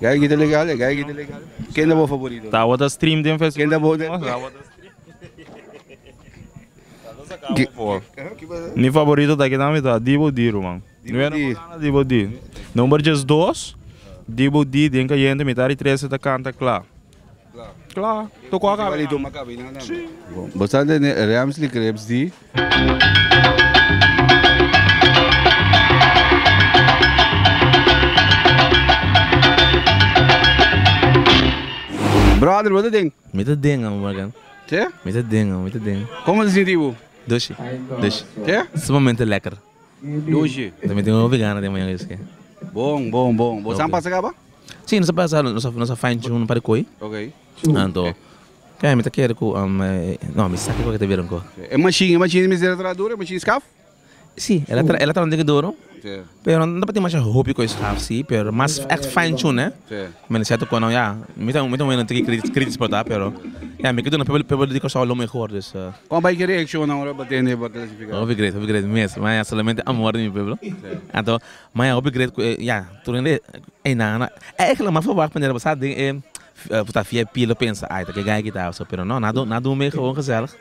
Gai kita legal e gai kita legal. Ken ta bo favorito? Tabata stream den Facebook. Ken ta bo den? Tabata stream. Mi favorito ta kita mi ta Dibu Di Ruman. Numero Di. uno Dibu Di. Number jes dos Dibu Di den kayente mi ta ritrese ta kanta kla. Kla, toko a kabe nan. Sí. Bo sa tene Rams di Crepes di. Brother bo ta den? Mi ta den amo Morgan. Ke? Mi ta den amo, mi ta den. Como ta sinti bo? Doshi, doshi. Ke? Sumamente lekker. Dushi. Tambe tin un vegano den mañana esque. Bon, bon, bon. Bo sa pasa caba? Si, nos a pasa, nos a fine tune un par di coy. Ok. Anto, kende mi ta kere cu, no, mi sa kico cu ta bira anco. E machine, e machine mester a traha duro? E machine scaf? Si, el a traha un tiki duro, pero no ta tin masha hopi coy scaf, si, pero mas echt fine tune, eh. Mi na siento cu nan ya, mi ta un hende ki critis por ta pero ya mi ke duna pueblo di Kòrsou lo mehor dus. Con bay ki reacciona ora bo tende bo clasifica? Hopi great, hopi great mes, ma ya solamente amor di mi pueblo. Anto ma ya hopi great cu e ya tur hende ey nan na eigenlijk lo mas for wacht paneer bo sa den e ta fia e pila pensa ay ta ke gaya kita pero no nan a dun mega hoon gezellig.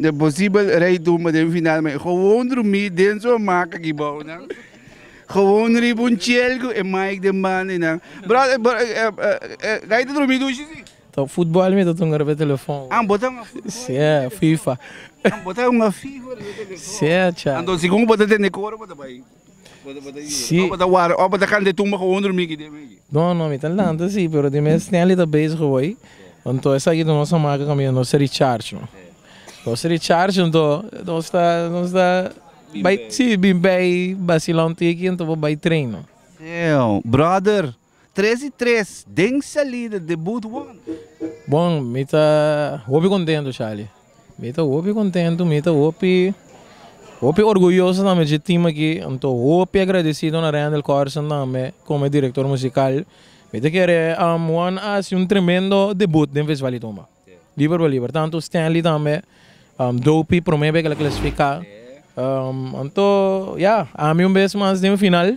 Te posibel rei tumba den final ma e gewoon drumí den su hamaca aki bou nan. Gewoon riba un chel cu e mic den banda y nan. Brother, Guy ta drumi dushi si? Ta futbol mi ta tunga riba e telefon. Ah, bo ta hunga futbol? Si, fifa. Ah, bo ta hunga fifa riba e telefon? Si, cha. Anto segun cu bo ta tende cu ora bo ta bay? Si. Ora bo ta wara, ora bo ta kanta e tumba ku bo durmi aki debe aki. No, no, mi ta lanta si, pero di mes Stanley ta bezig ku bo ei. Anto esaki ta nos ta maka kaminda nos ta recharge no. Nos ta recharge anto nos ta nos ta bai si bin bai basila un tiki anto bo bai train no. Damn brother. Tres y tres den salida de Booth One. Bon, mi ta hopi contento, Charlie. Mi ta hopi contento, mi ta hopi, hopi orguyoso tambe dje team aki. Anto hopi agradecido na Randall Corson tambe como e director musical. Mi ta kere Juan a haci un tremendo debut den Festival di Tumba. Liber pa liber. Tanto Stanley tambe, Dopey prome bek el a clasifica. Anto, ya, ami un bes mas den final.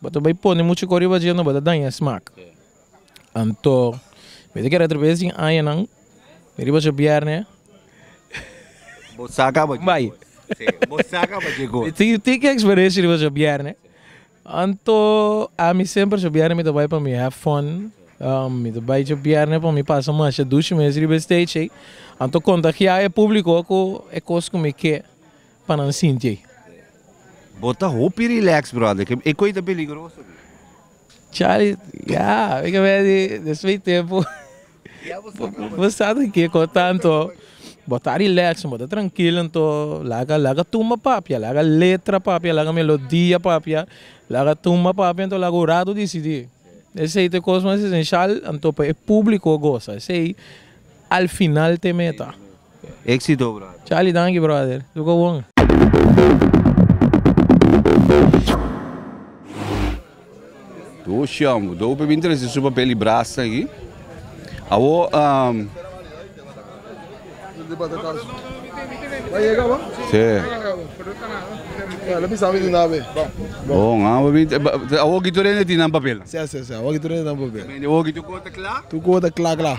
Bo ta bai pone muchu kos riba dje, no bo ta daña e smak. Anto mi ta kere atrabes di añanan di riba djobièrnè. Bo sa kaba dje kos. Bo sa kaba dje kos. Mi tin tin ke eksperensia riba djobièrnè. Anto ami semper djobièrnè mi ta bai pa mi have fun. Mi ta bai djobièrnè pa mi pasa masha dushi mes riba e stage ei. Anto kontagiá e públiko ku e kos ku mi ke. pa nan sinti ey. Bo ta hopi relax brother, ke e koe ta peligroso aki. Charlie, ya, mi ta wens di despues di tempo bo sa ta kiko tanto, bo ta relax, bo ta trankil anto laga laga tumba papia, laga letra papia, laga melodia papia, laga tumba papia anto laga ora to disidi, esey ta e kos mas esencial anto pa e publico gosa esey al final te meta. Exito brother. Charly danki brother su ko bon. Do shambu do pe bin trese su papel y brasa aki awo bon awo bin awo ki tur hende tin nan papel. Mende awo ki tur ko ta kla.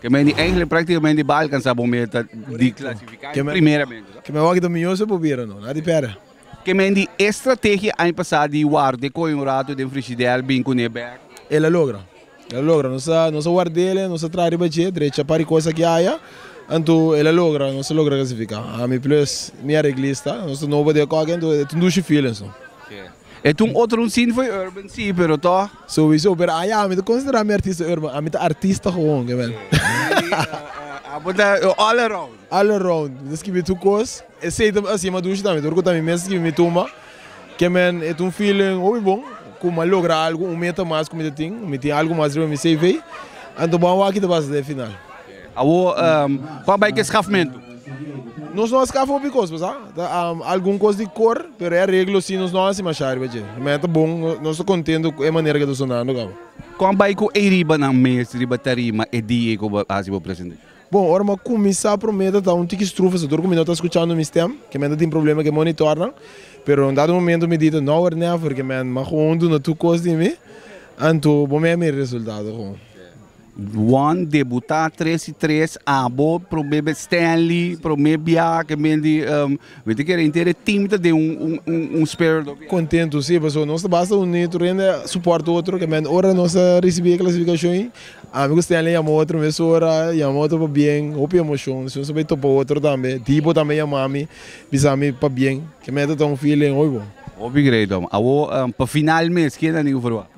Ke men di Engeland praktikamente e bai alkansá bo meta di klasifiká e primera mento. Ke men wak domingo so pubira no, nada di pèrdè. Ke men di e strategia aña pasá di ward'é kohe un ratu den frishidèr bin kun'é bèk? El a logra, el a logra. Nos a nos a ward'ele, nos a traha riba dje, drecha pari kos aki aya, anto el a logra, nos a logra klasifiká. Ami plus mi a reglista, nos ta nobo di e kòke, anto e ta un dushi feelings no. E ta un otro un sin fo'i urban si pero tò. Sowiso pero a ya mi ta konsiderá mi artista urban ami ta artista gewoon ke men. Abo ta all around. All around mi ta skibi tur kos esei ta hasi Madushi tambe tur ku ta mi mes skibi mi tumba ke men e ta un feeling hopi bon ku mi a logra algu un meta mas ku mi ta tin mi tin algu mas riba mi CV anto bo a wak kita basa den final. Awor, pa bai ke skafmentu? Nos no a skafa hopi kos, bo sa. Ta algun kos di kor, pero e areglo si, nos no a hasi masha riba dje. Mei ta bon, nos ta kontentu ku e manera ke ta sonando kaba. Kon a bai ku eiribanan mes riba tarima e di ei ku bo hasi bo presente? Bon, ora mi a kuminsá promé ta ta un tiki strufa, so tur ku mi no ta skuchando mi stèm, ke men ta tin problema ku e monitòrnan. Pero un dado momentu mi di, No wòrdu nèfer, ke men, m'a koon duna tur kos di mi, anto bo mei a mira e resultado. Juan debutá tres i tres abo promé bes Stanley promé bia ke men di mi ta kere inter e team ta den un spirit of. Kontentu si paso nos ta basta uní tur hende a suport otro ke men ora nos a risibí e klasifikashon i ami ku Stanley yama otro mesora yama otro pa bien hopi emoshon si nos a bai topa otro tambe di bo tambe yama mi bisa mi pa bien ke men ta tong feeling oi bo. Hopi great amo awor pa final mes kenda niño for wak?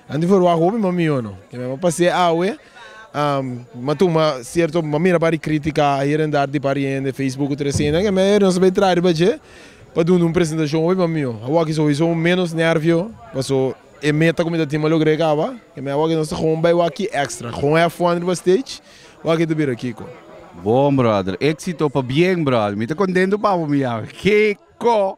Anto for wak hopi ma mihó no. Ke men a pas'é awe, ma tuma sierto, ma mira pari krítika hier en dar di pari hende, Facebook u trescientos, ke men nos a bai traha riba dje pa duna un presentashon hopi ma mihó. Awak so hopi so ménos nérvio, paso e meta ku mi ta tin mi a logr'é kaba, ke men awak nos ta gou bai wak ki èkstra, gou hèf fuan riba stage, wak e ta bira kiko. Bon brother, éksito pa bien brother. Mi ta kontentu pa bo mi yawe. Kiko!